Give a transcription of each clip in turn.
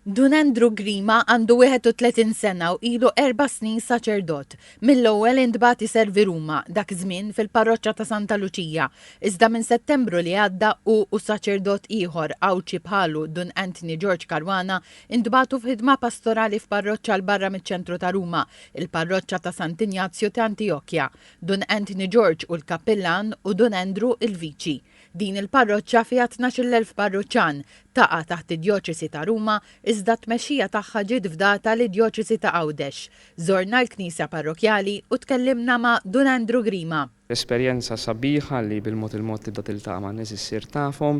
Dun Andrew Grima għandu 31 sena u ilu erba' snin saċerdot. Mill-ewwel intbagħat iservi Ruma, dak iż-żmien fil-parroċċa ta' Santa Luċija, iżda minn Settembru li għadda hu u saċerdot ieħor Għawdxi bħalu, Dun Anthony George Caruana, intbagħtu f'ħidma pastorali f'parroċċa 'l barra miċ-ċentru ta' Ruma, il-parroċċa ta' Sant' Injazju t'Antiochia. Dun Anthony George hu l-kappillan u Dun Andrew il-viċi. Din il-parroċċa fiha tnax-il elf parruċċan. Taqa' taħt id-Djoċesi ta' Ruma, iżda t-tmexxija tagħha ġiet fdata lid-Djoċesi ta' Għawdex. Żorna l-knisja parrokjali u tkellimna ma' Dun Andrew Grima. Esperjenza sabiħa li bil-mod il-mod tibda tiltaqa' ma' nies issir tafhom.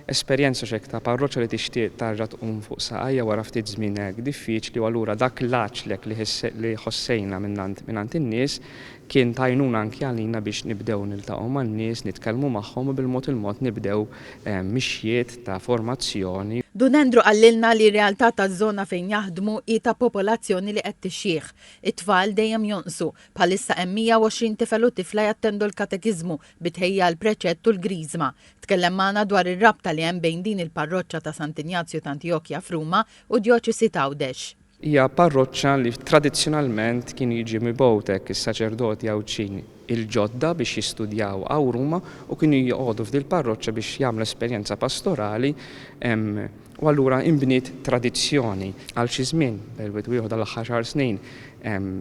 Esperjenza x'hekk ta' parroċċa li tixtieq tarġa' tqum fuq saqajha wara ftit żmien hekk diffiċli u allura dak l-għaġlek li ħossejna mingħand in-nies Kien ta' għajnuna anki għalina biex nibdew niltaqgħu man-nies, nitkellmu magħhom u bil-mod il-mod nibdew mixjiet ta' formazzjoni. Dun Andrew qalilna li r-realtà taż-żona fejn jaħdmu hi ta' popolazzjoni li qed tixjieħ. It-tfal dejjem jonqsu. Bħalissa hemm 120 tifel u tifla jattendu l-katekiżmu bi tħejjija għall-preċett u l-Griżma. Tkellem magħna dwar ir-rabta li hemm bejn din il-parroċċa ta' Sant'Injazju t'Antijokja f'Ruma u d-djoċesi t'Għawdex. Hija parroċċa li tradizzjonalment kienu jiġi mibgħut hekk is-saċerdoti Għawdxin il-ġodda biex jistudjaw Għawruma u kienu joqogħdu f'dil-parroċċa biex jagħmlu esperjenza pastorali u allura inbniet tradizzjoni għal xi żmien perwed ieħor dal-aħħar xahar snin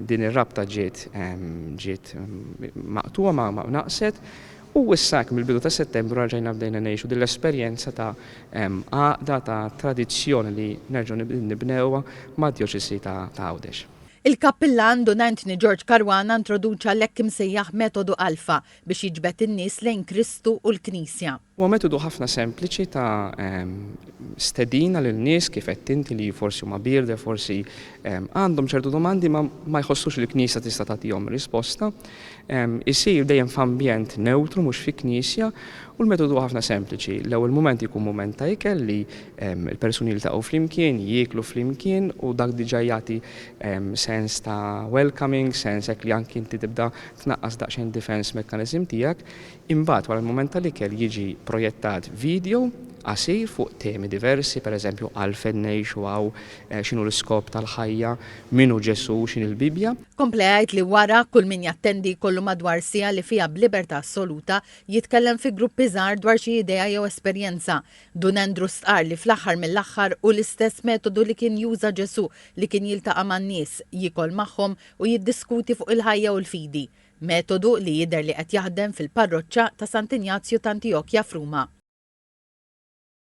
din ir-rabta ġiet ġiet maqtugħa ma naqset U issa hekk mill-bidu ta' Settembru reġgħina bdejna ngħixu din l-esperjenza ta' għaqda, ta' tradizzjoni li nerġgħu nibnewha mad-Djoċesi ta' Għawdex. Il-Kappillan Dun Anthony George Caruana introduċa l-hekk imsejjaħ metodu Alpha biex jiġbed in-nies lejn Kristu u l-Knisja. Huwa metodu ħafna sempliċi ta' stedina lil nies, kif għedt inti, li forsi huma bierda, forsi għandhom ċertu domandi imma ma jħossux li l-Knisja tista' tagħtihom risposta. Isir dejjem f'ambjent newtru mhux fi knisja u l-metodu huwa ħafna sempliċi. L-ewwel mument jkun mument ta' ikel li l-persuni jiltaqgħu flimkien, jieklu flimkien u dak diġà jagħti sens ta' welcoming, sens hekk li anki inti tibda tnaqqas daqsxejn defense mechanism tiegħek. Imbagħad wara l-mument tal-ikel jiġi projettat vidjo qasir fuq temi diversi, pereżempju għalfejn ngħixu hawn, x'inhu l-iskop tal-ħajja, min hu Ġesù, x'inhi l-Bibbja. Kompla jgħid li wara, kull min jattendi jkollu madwar siegħa li fiha b'libertà assoluta jitkellem fi gruppi żgħar dwar xi idea jew esperjenza. Dun Andrew stqarr li fl-aħħar mill-aħħar hu l-istess metodu li kien juża Ġesù li kien jiltaqa' man-nies, jiekol magħhom u jiddiskuti fuq il-ħajja u l-fidi. Metodu li jidher li qed jaħdem fil-parroċċa ta' Sant'Injazju t'Antiokja f'Ruma.